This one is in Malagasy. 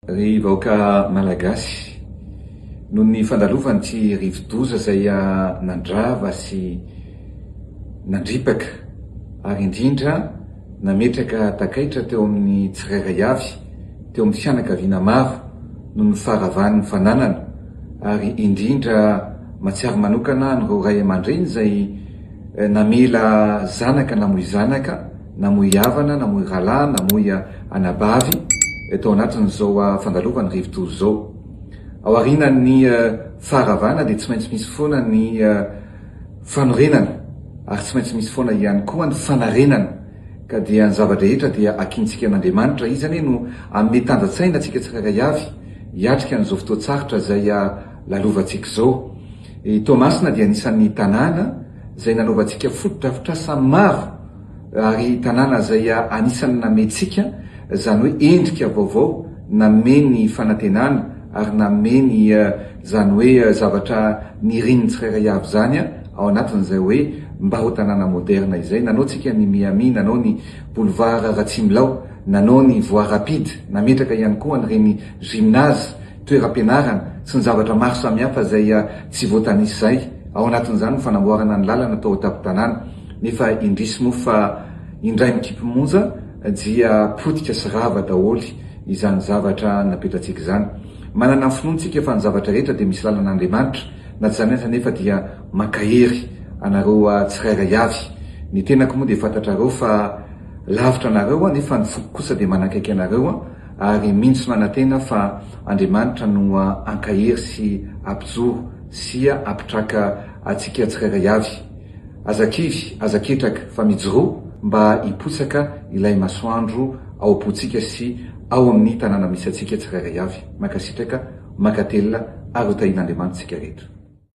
Ry vahoaka Malagasy, noho ny fandalovan'ity rivodoza izay nandrava sy nandripaka ary indrindra nametraka takaitra teo amin'ny tsirairay avy, teo amin'ny fianakaviana maro noho ny faharavan'ny fananana ary indrindra mahatsiaro manokana an'ireo ray aman-dreny izay namela zanaka namoy zanaka, namoy havana, namoy rahalahy, namoy anabavy tao anatin'izao fandalovan'ny rivodoza izao. Ao aorianan'ny faharavana dia tsy maintsy misy foana ny fanorenana ary tsy maintsy misy foana ihany koa ny fanarenana ka dia ny zava-drehetra dia hakiantsika an'Andriamanitra. Izy anie no hanome tanjan-tsaina antsika tsirairay avy hiatrika an'izao fotoan-tsarotra izay lalovantsika izao. I Toamasina dia anisan'ny tanàna. izay nanaovantsika fotodrafitrasa maro ary tanàna izay anisan'ny nameyntsika izany hoe endrika vaovao, nanome ny fanantenana ary nanome ny izany hoe zavatra nirian'ny tsirairay avy izany ao anatin'izay hoe mba ho tanàna moderna izay. Nanaontsika ny Miami, nanao ny Boulevard Ratsimbylao, nanao ny Voie Rapide, nametraka ihany koa an'ireny gymnase, toeram-pianarana sy ny zavatra maro samihafa izay tsy voatanisa izay, ao anatin'izany ny fanamboarana ny lalana tao an-tampon-tanàna, nefa indrisy moa fa indray mikipy monja dia potika sy rava daholo izany zavatra napetratsika izany. Manana ny finoantsika fa ny zavatra rehetra dia misy lalan'Andriamanitra, na tsy izany aza anefa dia mankahery anareo tsirairay avy. Ny tenako moa dia fantatrareo fa lavitra anareo aho, nefa ny foko kosa dia manakaiky anareo. Ary mino sy manantena fa Andriamanitra no hankahery sy hampijoro sy hampitraka antsika tsirairay avy. Aza kivy, aza ketraka, fa mijoroa mba hipotsaka ilay masoandro ao am-pontsika sy ao amin'ny tanàna misy antsika tsirairay avy. Mankasitraka, mankatelina ary hotahian'Andriamanitra tsika rehetra.